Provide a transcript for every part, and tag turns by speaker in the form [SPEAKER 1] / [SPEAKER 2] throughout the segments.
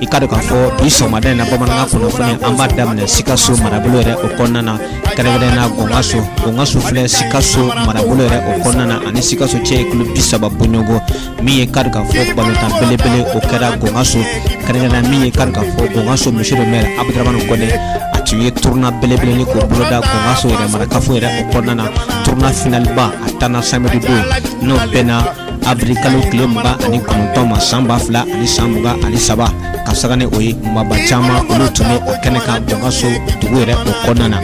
[SPEAKER 1] i k'a dɔn k'a fɔ bi sɔgɔmada in na bamanankan kunnafoni an b'a daminɛ sikaso marabolo yɛrɛ o kɔnɔna na kɛrɛnkɛrɛn na gɔngaso gɔngaso filɛ sikaso marabolo yɛrɛ o kɔnɔna na ani sikaso cɛ ye kilo bi saba bɔɲɔgɔn min ye k'a dɔn k'a fɔ balontan belebele o kɛra gɔngaso kɛrɛnkɛrɛn min ye k'a dɔn k'a fɔ gɔngaso monsieur le maire abudramani kɔnɛ a tun ye turuna belebele nin k'o boloda gɔngaso yɛrɛ marakafo yɛrɛ o kɔnɔna na turuna finaliba a tanna samedi don n'o bɛnna awirili kalo tile mugan ani kɔnɔntɔn ma san ba fila ani san mugan ani saba ka saga ni o ye maaba caman olu tun bɛ o kɛnɛ kan gɔngaso dugu yɛrɛ o kɔnɔna na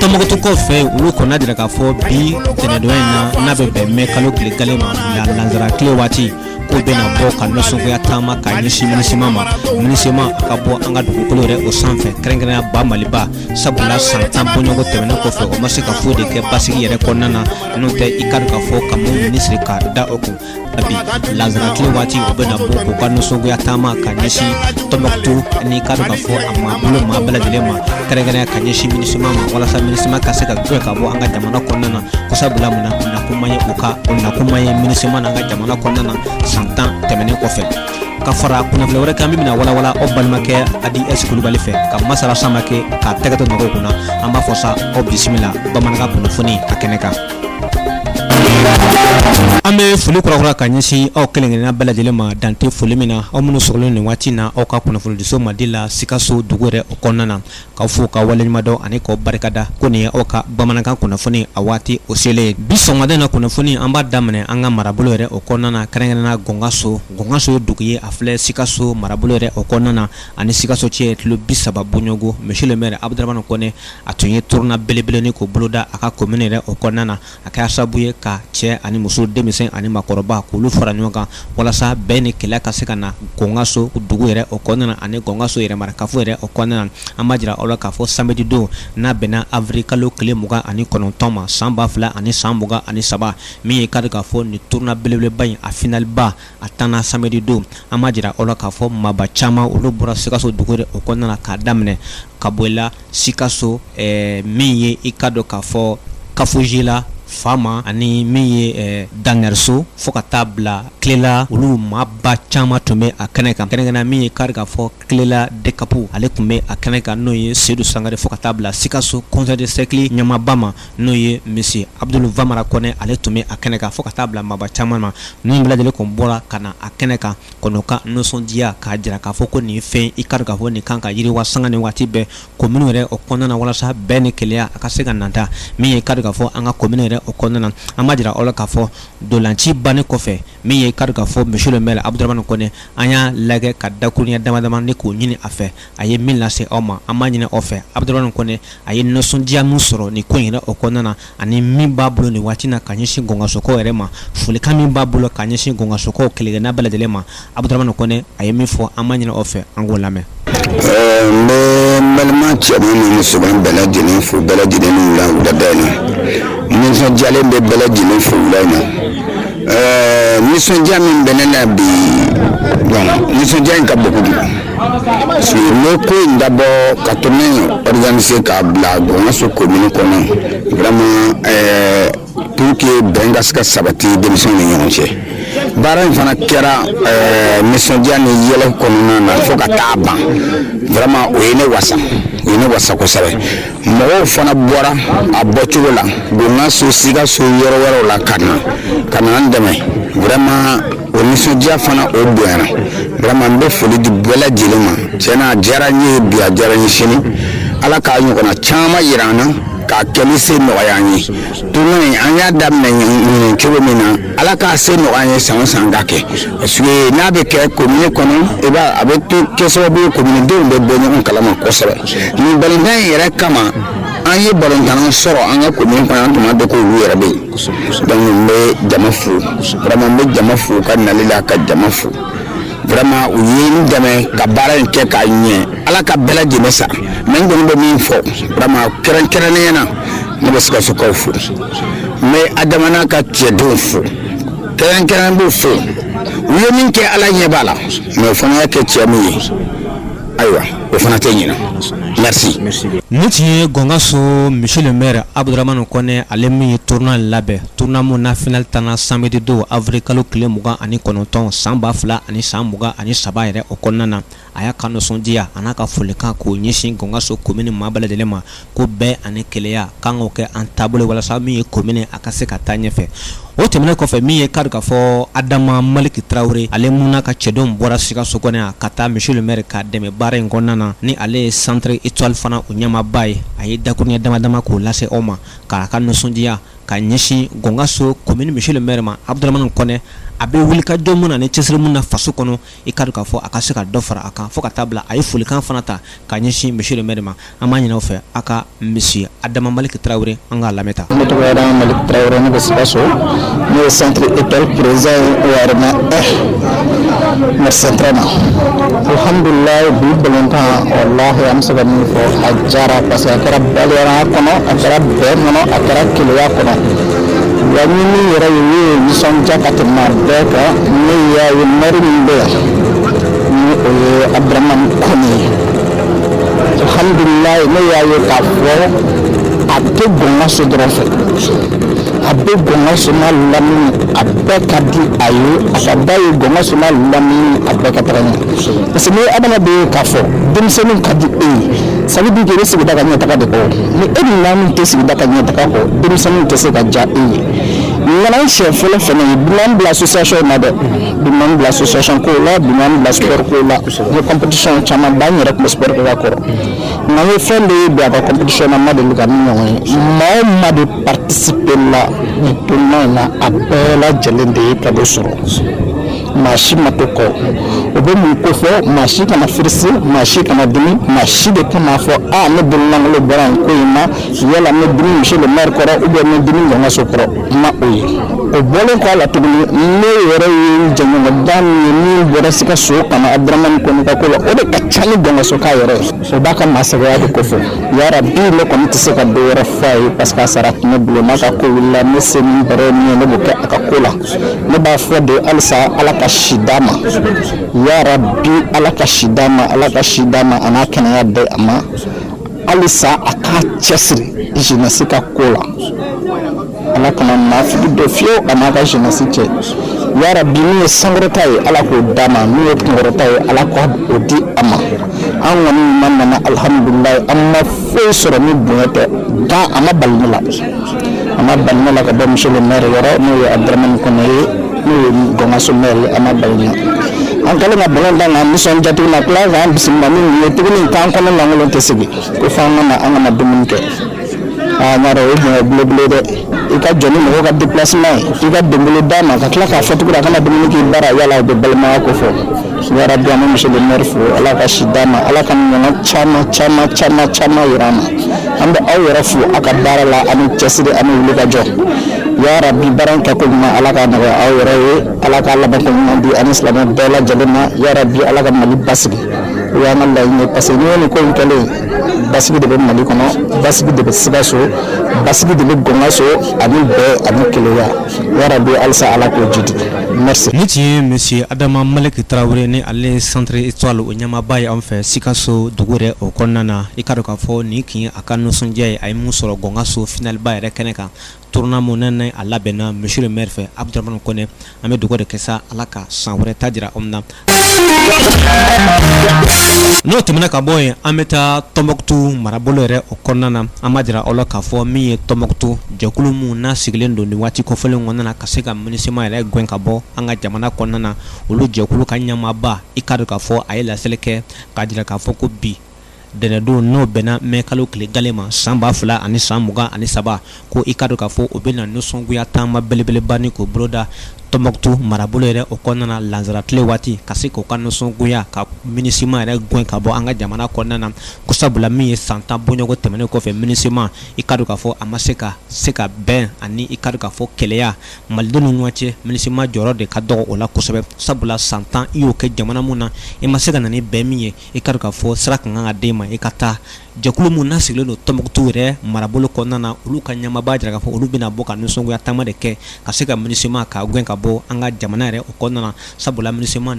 [SPEAKER 1] tɔmɔgɔtukaw fɛ olu kɔnn'a jira k'a fɔ bi tɛnɛdɔn in na n'a bɛ bɛn mɛ kalo tile kelen ma lansara tile waati k'u bɛna bɔ ka nisɔngoya taama ka ɲɛsin minisima ma minisima ka bɔ an ka dugukolo yɛrɛ o sanfɛ kɛrɛnkɛrɛnya ba maliba sabula san tan bɔɲɔgɔn tɛmɛnen kɔfɛ u ma se ka foyi de kɛ basigi yɛrɛ kɔnɔna na n'o tɛ i k'a dɔn k'a fɔ ka u minɛn siri ka da u kun bi lansara tile waati u bɛna bɔ k'u ka nisɔngoya taama ka ɲɛsin tɔnbɔkutu ani i k'a dɔn k'a fɔ a marabolo maa bɛɛ lajɛlen ma kɛrɛnkɛrɛnya ka ɲɛsin minisima ma walasa minisima ka se ka gɛn ka bɔ an ka jamana kɔnɔna na ko sabula mun na nakun ma ye u ka nakun ma ye minisima na an ka jamana kɔnɔna na san tan tɛmɛnen kɔfɛ ka fara kunnafoni wɛrɛ kan min bɛna walawala aw balimakɛ hadi ɛsi kulubali fɛ ka masala sama kɛ k'a tɛgɛtɔ nɔgɔw kunna an b'a fɔ sa aw bisimila bamanankan kunnafoni a kɛnɛ kan an bɛ foli kurakura ka ɲɛsin aw kelenkelenna bɛɛ lajɛlen ma dan tɛ foli min na aw minnu sɔgɔlen nin waati na aw ka kunnafonidiso madi la sikaso dugu yɛrɛ o kɔnɔna na k'aw fo k'aw waleɲumandɔn ani k'aw barikada ko nin ye aw ka bamanankan kunnafoni a waati o selen bi sɔgɔmada in na kunnafoni an b'a daminɛ an ka marabolo yɛrɛ o kɔnɔna na kɛrɛnkɛrɛnna gɔngaso gɔngaso ye dugu ye a filɛ sikaso marabolo yɛrɛ o kɔnɔna na ani sikaso cɛ ye kilo bi saba bɔɲɔgɔn monsieur le maire abudramani kɔnɛ a tun ye turuna belebele nin k'o boloda a ka commune yɛrɛ o kɔnɔna na a kɛra sababu ye ka cɛ ani muso denmisɛn ani makɔrɔba k'olu fara ɲɔgɔn kan walasa bɛɛ ni kelen ka se ka na gɔngaso dugu yɛrɛ o kɔnɔna na ani gɔngaso yɛrɛ marakafo yɛrɛ o kɔnɔna na an m'a jira aw la k'a fɔ samedi don n'a bɛnna awirili kalo tile mugan ani kɔnɔntɔn ma san ba fila ani san mugan ani saba min ye k'a dɔn k'a fɔ nin turuna belebeleba in a finaliba a tanna samedi don an m'a jira aw la k'a fɔ maaba caman olu bɔra sikaso dugu yɛrɛ o kɔnɔna na k'a daminɛ kaboyila sikaso min ye i k'a dɔn k'a fɔ kafujila fama ani min ye dandɛrɛso fo ka taa bila kilela olu maaba caman tun bɛ a kɛnɛ kan kɛrɛnkɛrɛnna min ye k'a dɔn k'a fɔ kilela dekapu ale tun bɛ a kɛnɛ kan n'o ye sedu sangare fo ka taa bila sikaso conseil de cercle ɲɛmaaba ma n'o ye monsieur abudu vamara kɔnɛ ale tun bɛ a kɛnɛ kan fo ka taa bila maaba caman ma nin bɛɛ lajɛlen tun bɔra ka na a kɛnɛ kan kɔnɔ ka nisɔndiya k'a jira k'a fɔ ko nin fɛn i kari k'a fɔ nin kan ka yiriwa sanga ni waati bɛɛ komini yɛrɛ o kɔnɔna na walasa bɛn ni kelenya a ka se ka nata min ye kari k'a fɔ an ka komini yɛrɛ o kɔnɔna na an m'a jira aw la k'a fɔ dolanci bannen kɔfɛ min ye kari k'a fɔ monsieur le maire abuduramani kɔnɛ an y'a lajɛ ka dakurunɲɛ dama dama ni k'o ɲini a fɛ a ye min lase aw ma an m'a ɲini aw fɛ abuduramani kɔnɛ a ye nisɔndiya min sɔrɔ ni ko in yɛrɛ o kɔnɔna na ani min b'a bolo nin waati na ka ɲɛsin gɔngasokaw yɛrɛ ma folikan min b'a bolo ka ɲɛsin gɔngasokaw kelenkelenna bɛɛ lajɛlen ma Abudaramani Kɔnɛ a ye min fɔ an b'a ɲini aw fɛ an k'o lamɛn. Ɛɛ n bɛ n
[SPEAKER 2] balima cɛman ni musoman bɛɛ lajɛlen fo bɛɛ lajɛlen ni wula wulada in na nisɔndiyalen bɛ bɛɛ lajɛlen fo wula in na ɛɛ nisɔndiya min bɛ ne na bi bon nisɔndiya in ka bon kojugu ne ko in dabɔ ka tournoi organiser k'a bila gɔngaso komini kɔnɔ vraiment eh, pour que bɛn ka se ka sabati denmisɛnw ni ɲɔgɔn cɛ baara in fana kɛra eh, nisɔndiya ni yɛlɛ kɔnɔna na fo ka taa ban vraiment o ye ne wasa o ye ne wasa kosɛbɛ mɔgɔw fana bɔra a bɔcogo la gɔngaso sikaso yɔrɔ wɛrɛw la ka na ka na an dɛmɛ vraiment o nisɔndiya fana o bonyana vraiment n bɛ foli di bɛɛ lajɛlen ma tiɲɛ na a diyara n ye bi a diyara n ye sini ala k'a ɲɔgɔnna caman yira an na k'a kɛli se nɔgɔya an ye tournoi in an y'a daminɛ ɲinin cogo min na ala k'a se nɔgɔya an ye san o san ka kɛ parce que n'a bɛ kɛ komini kɔnɔ i b'a a bɛ to kɛ sababu ye kominidenw bɛ bɔ ɲɔgɔn kalama kosɛbɛ nin balontan in yɛrɛ kama an ye balontannaw sɔrɔ an ka komin kɔnɔ an tun m'a dɔn ko olu yɛrɛ bɛ yen donc n bɛ jama fo vraiment n bɛ jama fo ka nali la ka jama fo vraiment u ye n dɛmɛ ka baara in kɛ k'a ɲɛ ala ka bɛɛ lajɛlen sara mais n kɔni bɛ min fɔ vraiment kɛrɛnkɛrɛnnenya na ne bɛ sikasokaw fo n bɛ adama n'a ka cɛdenw fo kɛrɛnkɛrɛn n b'u fo u ye min kɛ ala ɲɛ b'a la mais o fana y'a kɛ tiɲɛ min ye Ayiwa o fana tɛ ɲina nin tun
[SPEAKER 1] ye gɔngaso monsieur le maire abuduramani kɔnɛ ale min ye tournoi labɛn tournoi min na finali tanna samedi don awirili kalo tile mugan ani kɔnɔntɔn san ba fila ani san mugan ani saba yɛrɛ o kɔnɔna na a y'a ka nisɔndiya a n'a ka folikan k'o ɲɛsin gɔngaso komini maa bɛɛ lajɛlen ma ko bɛn ani kelenya k'an k'o kɛ an taabolo walasa min ye komini a ka se ka taa ɲɛfɛ o tɛmɛnen kɔfɛ min ye kari k'a fɔ adama maliki tarawele ale min n'a ka cɛdenw bɔra sikaso kɔnɔ yan ka taa monsieur le maire k'a dɛmɛ baara in kɔnɔna na ni ale ye centre étoile fana o ɲɛmaaba ye a ye dakurunɲɛ dama dama k'o lase aw ma k'a ka nisɔndiya ka ɲɛsin gɔngaso komini monsieur le maire ma abuduramani kɔnɛ a bɛ wulikajɔ min na ni cɛsiri min na faso kɔnɔ i ka dɔn k'a fɔ a ka se ka dɔ fara a kan fo ka taa bila a ye folikan fana ta ka ɲɛsin monsieur le maire ma an b'a ɲini aw fɛ a ka monsieur adama maliki tarawele an k'a lamɛn ta ne tɔgɔ adama maliki
[SPEAKER 3] tarawele ne bɛ sikaso ne ye centre étoile président ye wayɛrɛma alhamdulilayi bi balɔntan walahi an bɛ se ka min fɔ a jara parce que a kɛra balimaya kɔnɔ a kɛra bɛn kɔnɔ a kɛra keleya kɔnɔ Wa ni min yɛrɛ ye min ye nisɔndiya ka tɛmɛ bɛɛ kan ne y'a ye maire min bɛ yan ni o ye abdramani kɔnɛ ye alhamdulilayi ne y'a ye k'a fɔ a tɛ gɔngaso dɔrɔn fɛ a bɛ gɔngaso n'a lamini a bɛɛ ka di a ye a ka d'a ye gɔngaso n'a lamini a bɛɛ ka taga ɲɛ parce que n'i ye adamaden ye k'a fɔ denmisɛnninw ka di e ye Ça veut dire que i bɛ sigida ka ɲɛtaga de kɔ o, ni e dun maa min tɛ sigida ka ɲɛtaga kɔ, denmisɛnninw tɛ se ka diya e ye. Nin kɛra n siɲɛ fɔlɔ fana ye bi ma n bila association in na dɛ, bi ma n bila association kow la, bi ma n bila sport kow la, n ye competition caman ba n yɛrɛ tun bɛ sport kɛ ka kɔrɔ nka n ye fɛn dɔ ye bi a ka competition na n ma deli ka min ɲɔgɔn ye, maa o maa de participer la nin tournoi in na a bɛɛ lajɛlen de ye cadeau sɔrɔ. maa si ma to kɔ o bɛ mun kofɔ maa si kana firisi maa si kana dimi maa si de kan'a fɔ a ne bololankolo bɔra nin ko in na yala ne dimi monsieur le maire kɔrɔ ou bien ne dimi gɔngaso kɔrɔ ma o ye o bɔlen kɔ a la tuguni ne yɛrɛ ye jɛɲɔgɔn da min ye min bɔra sikaso ka na aburamani kɔnɛ ka ko la o de ka ca ni gɔngasoka yɛrɛ ye o b'a ka maasɛbɛya de kofɔ yarabi ne kɔni tɛ se ka dɔ wɛrɛ fɔ a ye parce que a sara tɛ ne bolo n'a ka ko wulila ne se min bɛrɛ min ye ne b'o kɛ a ka ko la ne b'a fɔ de halisa ala ka si d'a ma yarabi ala ka si d'a ma ala ka si d'a ma an'a kɛnɛya di a ma halisa a k'a cɛsiri jeunesse ka ko la ala kana naafigi don fiyewu a n'a ka jeunesse cɛ yarabi min ye sankɔrɔta ye ala k'o d'a ma min ye kunkɔrɔta ye ala ka o di a ma an kɔni ɲuman nana alihamudulilayi an ma foyi sɔrɔ ni bonya tɛ nka a ma bali ne la a ma bali ne la ka bɔ monsieur le maire yɔrɔ n'o ye abdramane kɔnɛ ye n'o ye gɔngaso maire a ma bali ne an kɛlen ka balɔn tan na nisɔndiya tuguni na tila k'an bisimila ni nin ye tuguni k'an kɔnɔ lankolon tɛ segin ko fo an ka na an ka na dumuni kɛ aa n y'a dɔn o ye bonya belebele dɛ i ka jɔ ni mɔgɔw ka déplacement ye i ka donbolo d'a ma ka tila k'a fɔ tuguni a ka na dumuni k'i bara yala o bɛ balimaya kofɔ yarabi an bɛ monsieur le maire fo ala ka si d'a ma ala k'a ɲɔgɔnna caman caman caman caman yira an na an bɛ aw yɛrɛ fo a ka baara la ani cɛsiri ani wuli ka jɔ yarabi baara in kɛko ɲuman ala k'a nɔgɔya aw yɛrɛ ye ala ka labanko ɲuman di ani silamɛ bɛɛ lajɛlen ma yarabi ala ka mali basigi o y'an ka laɲini ye parce que n'i ye nin ko in kɛlen basigi de bɛ mali kɔnɔ basigi de bɛ sikaso basigi de bɛ gɔngaso ani bɛn ani keleya yarabi halisa ala k'o jidi Nin tun ye
[SPEAKER 1] monsieur adama maliki tarawele ni ale centre étoile o ɲɛmaaba ye an fɛ sikaso dugu yɛrɛ o kɔnɔna na i k'a dɔn k'a fɔ nin tun ye a ka nisɔndiya ye a ye min sɔrɔ Gongaso finaliba yɛrɛ kɛnɛ kan tournoi min n'a labɛnna monsieur le maire fɛ Abdramane Kɔnɛ an bɛ dugawu de kɛ sa ala ka san wɛrɛ ta jira an na n'o tɛmɛna ka bɔ yen an bɛ taa tɔnbɔkutu marabolo yɛrɛ o kɔnɔna na an b'a jira aw la k'a fɔ min ye tɔnbɔkutu jɛkulu min n'a sigilen don nin waati kofɔlen kɔnɔna na ka se ka MINUSMA yɛrɛ gɛn ka bɔ an ka jamana kɔnɔna na olu jɛkulu ka ɲɛmaaba i k'a dɔn k'a fɔ a ye laseli kɛ k'a jira k'a fɔ ko bi Ntɛnɛndon n'o bɛnna mɛ kalo tile gale ma san ba fila ani san mugan ani saba ko i k'a dɔn k'a fɔ u bɛna nisɔngoya taama belebeleba nin k'o boloda tɔnbɔkutu marabolo yɛrɛ o kɔnɔna na lansara tile waati ka se k'u ka nisɔngoya ka MINUSMA yɛrɛ gɛn ka bɔ an ka jamana kɔnɔna na ko sabula min ye san tan bɔɲɔgɔnko tɛmɛnen kɔfɛ MINUSMA i k'a dɔn k'a fɔ a ma se ka se ka bɛn ani i k'a dɔn k'a fɔ kelenya malidenw ni ɲɔgɔn cɛ MINUSMA jɔyɔrɔ de ka dɔgɔ o la kosɛbɛ sabula san tan i y'o kɛ jamana min na i ma se ka na ni bɛn min ye i k'a dɔn k'a fɔ sira ka kan ka d'i ma i ka taa jɛkulu min n'a sigilen don tɔnbɔkutu yɛrɛ marabolo kɔnɔna na olu ka ɲɛmaaba y'a jira k'a fɔ olu bɛna bɔ ka nisɔngoya taama de kɛ ka se ka MINUSMA ka gɛn ka bɔ an ka jamana yɛrɛ o kɔnɔna na sabula MINUSMA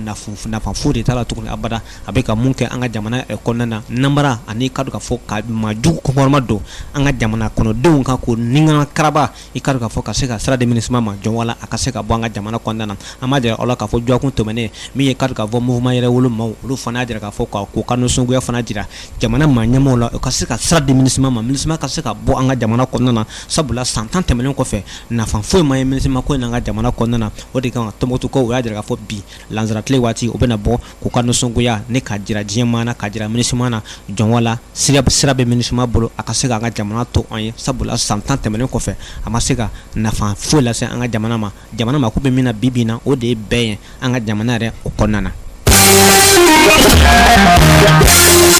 [SPEAKER 1] nafa foyi de t'a la tuguni abada a bɛ ka mun kɛ an ka jamana yɛrɛ kɔnɔna na namara ani i k'a dɔn k'a fɔ ka maajugu kɔkɔrɔma don an ka jamana kɔnɔdenw kan ko nin ka na karaba i k'a dɔn k'a fɔ ka se ka sira di MINUSMA ma joona wala a ka se ka bɔ an ka jamana kɔnɔna na an b'a jira aw la k'a fɔ jɔkun tɛmɛnen min ye k'a dɔn k'a fɔ mouvement yɛrɛwolo maaw olu fana y'a jira k'a fɔ k'u ka nisɔngoya fana jira jamana maa ɲɛmaaw la u ka se ka sira di MINUSMA ma MINUSMA ka se ka bɔ an ka jamana kɔnɔna na sabula san tan tɛmɛnen kɔfɛ nafa foyi ma ye MINUSMA ko in na an ka jamana kɔnɔna na o de kama tɔnbɔkutukaw o y'a jira k'a fɔ bi lansara tile waati u bɛna bɔ k'u ka nisɔngoya nin ka jira diɲɛ maa na ka jira MINUSMA na joona wala sira bɛ MINUSMA bolo a ka se ka an ka jamana to an ye sabula san 10 tɛmɛnen kɔfɛ a ma se ka nafa foyi lase an ka jamana ma jamana mako bɛ min na bi-bi in na o de ye bɛn ye an ka jamana yɛrɛ o kɔnɔna na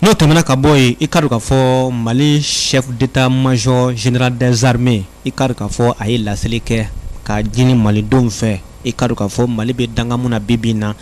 [SPEAKER 1] n'o tɛmɛna ka bɔ yen i k'a dɔn k'a fɔ Mali chef d'état major général des armées i k'a dɔn k'a fɔ a ye laseli kɛ k'a ɲini Malidenw fɛ i k'a dɔn k'a fɔ Mali bɛ dankan min na bi-bi in na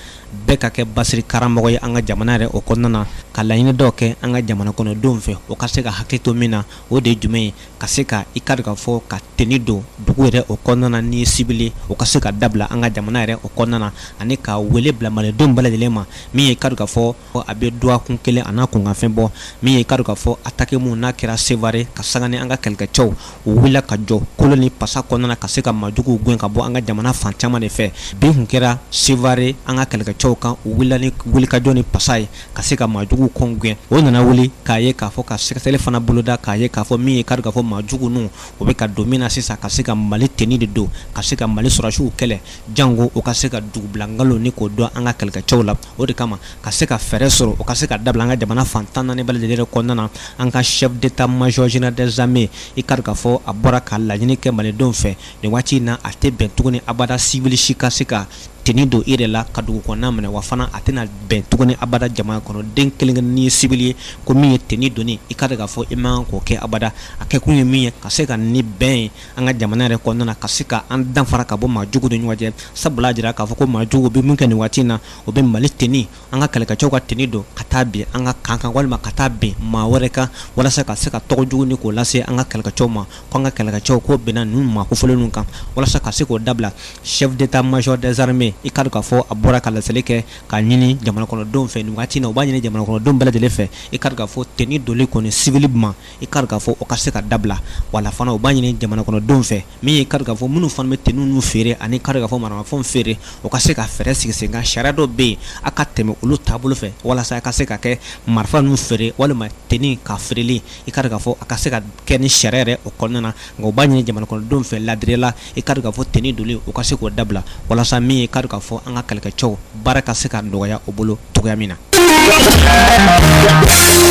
[SPEAKER 1] bɛɛ ka kɛ basigi karamɔgɔ ye an ka jamana yɛrɛ o kɔnɔna na ka laɲini dɔw kɛ an ka jamana kɔnɔdenw fɛ o ka se ka hakili to min na o de ye jumɛn ye ka se ka i k'a dɔn k'a fɔ ka tenue don dugu yɛrɛ o kɔnɔna na n'i ye sibili o ka se ka dabila an ka jamana yɛrɛ o kɔnɔna na ani ka wele bila malidenw bɛɛ lajɛlen ma min ye i k'a dɔn k'a fɔ a bɛ dɔgɔkun kelen a n'a kunkanfɛn bɔ min ye i k'a dɔn k'a fɔ attaque min n'a kɛra Sevare ka sanga ni an ka kɛlɛkɛcɛw u wulila ka jɔ kolo ni pasa kɔnɔna na ka se ka majuguw gɛn ka bɔ an ka jamana fan caman de fɛ bin kun kɛra sevare an ka kɛlɛkɛcɛw kan u wulila ni wulikajɔ ni pasa ye ka se ka majuguw kɔn gɛn o nana wuli k'a ye k'a fɔ ka sɛgɛsɛgɛli fana boloda k'a ye k'a fɔ min ye ka dɔn k'a fɔ majugu ninnu o bɛ ka don min na sisan ka se ka mali teni de don ka se ka mali sɔrɔsiw kɛlɛ janko o ka se ka dugubilankalo ni k'o dɔn an ka kɛlɛkɛcɛw la o de kama ka se ka fɛɛrɛ sɔrɔ o ka se ka dabila an ka jamana fan tan ni naani bɛɛ lajɛlen kɔnɔna na an ka chef d'état major général des armées i ka dɔn k'a fɔ a bɔra ka laɲini kɛ malidenw fɛ nin waati in na a tɛ bɛn tuguni abada civil si ka se ka teni don i yɛrɛ la ka dugu kɔnɔna minɛ wa fana a tɛna bɛn tuguni abada jamana kɔnɔ den kelen kelen n'i ye civil ye ko min ye teni donni i ka dɔn k'a fɔ i man kan k'o kɛ abada a kɛkun ye min ye ka se ka ni bɛn ye an ka jamana yɛrɛ kɔnɔna na ka se ka an danfara ka bɔ maa jugu ni ɲɔgɔn cɛ sabula jira k'a fɔ ko maa jugu bɛ min kɛ nin waati in na o bɛ mali teni an ka kɛlɛkɛcɛw ka teni don ka taa bin an ka kan kan walima ka taa bin maa wɛrɛ kan walasa ka se ka tɔgɔ jugu ni k'o lase an ka kɛlɛkɛcɛw ma ko an ka kɛlɛkɛcɛw k'o binna ninnu maa kofɔlen ninnu kan walasa ka se k'o dabila chef d'état major des armées i ka dɔn k'a fɔ a bɔra ka laseli kɛ k'a ɲini jamanakɔnɔdenw fɛ nin waati in na u b'a ɲini jamanakɔnɔdenw bɛɛ lajɛlen fɛ i ka dɔn k'a fɔ teni doli kɔni civil ma i ka dɔn k'a fɔ o ka se ka dabila wala fana u b'a ɲini jamana kɔnɔdenw fɛ min ye ka dɔn k'a fɔ minnu fana bɛ teni ninnu feere ani ka dɔn k'a fɔ maramafɛn feere o ka se ka fɛɛrɛ sigi sen kan sariya dɔ bɛ yen a ka tɛmɛ olu taabolo fɛ walasa a ka se ka kɛ marifa ninnu feere walima teni ka feereli i ka dɔn k'a fɔ a ka se ka kɛ ni sariya yɛrɛ o kɔnɔna na nka u b'a ɲini jamana kɔnɔdenw fɛ ladiriya la i ka dɔn k'a fɔ teni doli u ka se k'o dabila walasa min ye ka dɔn k'a fɔ an ka kɛlɛkɛcɛw baara ka se ka nɔgɔya o bolo cogoya min na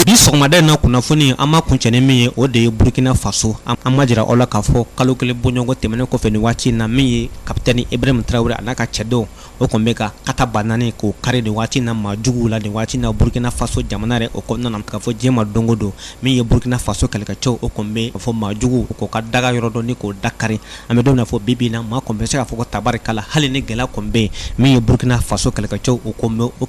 [SPEAKER 1] bi sɔgɔmada in na kunnafoni an b'a kuncɛ ni min ye o de ye burukina faso an b'a jira aw la k'a fɔ kalo kelen bɔɲɔgɔn tɛmɛnen kɔfɛ nin waati in na min ye kapitɛni Ibrahim Traore a n'a ka cɛdenw o kɔni bɛ ka katabanani k'o kari nin waati na maa juguw la nin waati na burukina faso jamana yɛrɛ o kɔnɔna na k'a fɔ diɲɛ ma don o don min ye burukina faso kɛlɛkɛcɛw o kɔni bɛ fɔ maa juguw k'o ka daga yɔrɔ dɔn ni k'o dakari an bɛ don min na fɔ bi bi in na maa kɔni bɛ se k'a fɔ ko tabarika la hali ni gɛlɛya kɔni bɛ yen min ye burukina faso kɛlɛkɛcɛw o kɔni bɛ o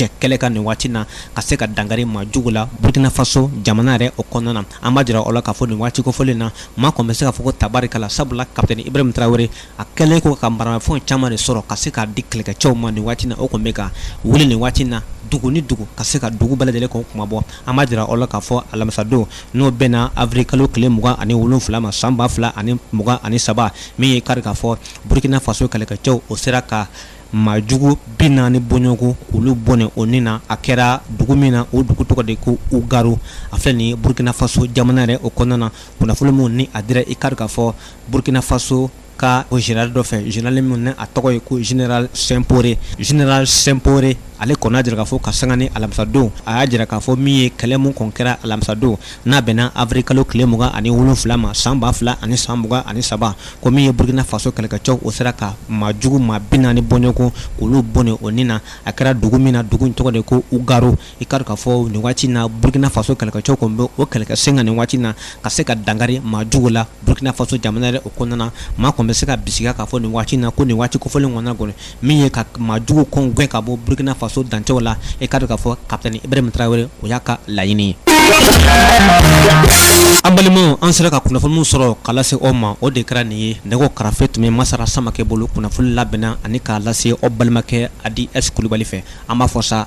[SPEAKER 1] cɛ kɛlɛ kan nin waati na ka se ka dankari maa jugu la burukina faso jamana yɛrɛ o kɔnɔna na an b'a jira aw la k'a fɔ nin waati kofɔlen na maa kɔni bɛ se k'a fɔ ko tabarika la sabula kapitɛni Ibrahim Traore a kɛlen kɔ ka maramafɛn caman de sɔrɔ ka se k'a di kɛlɛkɛcɛw ma nin waati na o kɔni bɛ ka wuli nin waati na dugu ni dugu ka se ka dugu bɛɛ lajɛlen k'o kunmabɔ an b'a jira aw la k'a fɔ alamisadon n'o bɛnna avril kalo tile mugan ani wolonfila ma san ba fila ani mugan ani saba min ye ka dɔn k'a fɔ burkina faso kɛlɛkɛcɛw o sera ka maa jugu bi naani bɔɲɔgɔn k'olu bɔnɛ o ni na a kɛra dugu min na o dugu tɔgɔ de ko ugaru a filɛ nin ye burkina faso jamana yɛrɛ o kɔnɔna na kunnafoni min ni a dira i ka dɔn k'a fɔ Burkina Faso ka o général dɔ fɛ général min ni a tɔgɔ ye ko général Sempore général Sempore ale kɔni y'a jira k'a fɔ ka sanga ni alamisadon a y'a jira k'a fɔ min ye kɛlɛ min kɔni kɛra alamisadon n'a bɛnna avril kalo tile mugan ani wolonwula ma san ba fila ani san mugan ani saba ko min ye Burkina Faso kɛlɛkɛcɛw o sera ka maa jugu maa bi naani bɔɲɔgɔn k'olu bɔnɛ o ni na a kɛra dugu min na dugu in tɔgɔ de ko Ugaru i k'a dɔn k'a fɔ nin waati na Burkina Faso kɛlɛkɛcɛw kɔni bɛ o kɛlɛkɛ sen kan nin waati na ka se ka dankari maa jugu la Burkina Faso jamana yɛrɛ o kɔnɔna maa kɔni bɛ se k'a bisigiya k'a fɔ nin waati na ko nin waati kofɔlen kɔnɔna kɔni min ye ka maa jugu kɔni gɛn ka bɔ Burkina Faso dancɛw la i k'a dɔn k'a fɔ capitaine Ibrahim Traoré o y'a ka laɲini ye an balimaw an sera ka kunnafoni min sɔrɔ k'a lase aw ma o de kɛra nin ye nɛgɛ karafe tun bɛ Masara Samakɛ bolo kunnafoni labɛnna ani k'a lase aw balimakɛ Adi S Kulibali fɛ an b'a fɔ sa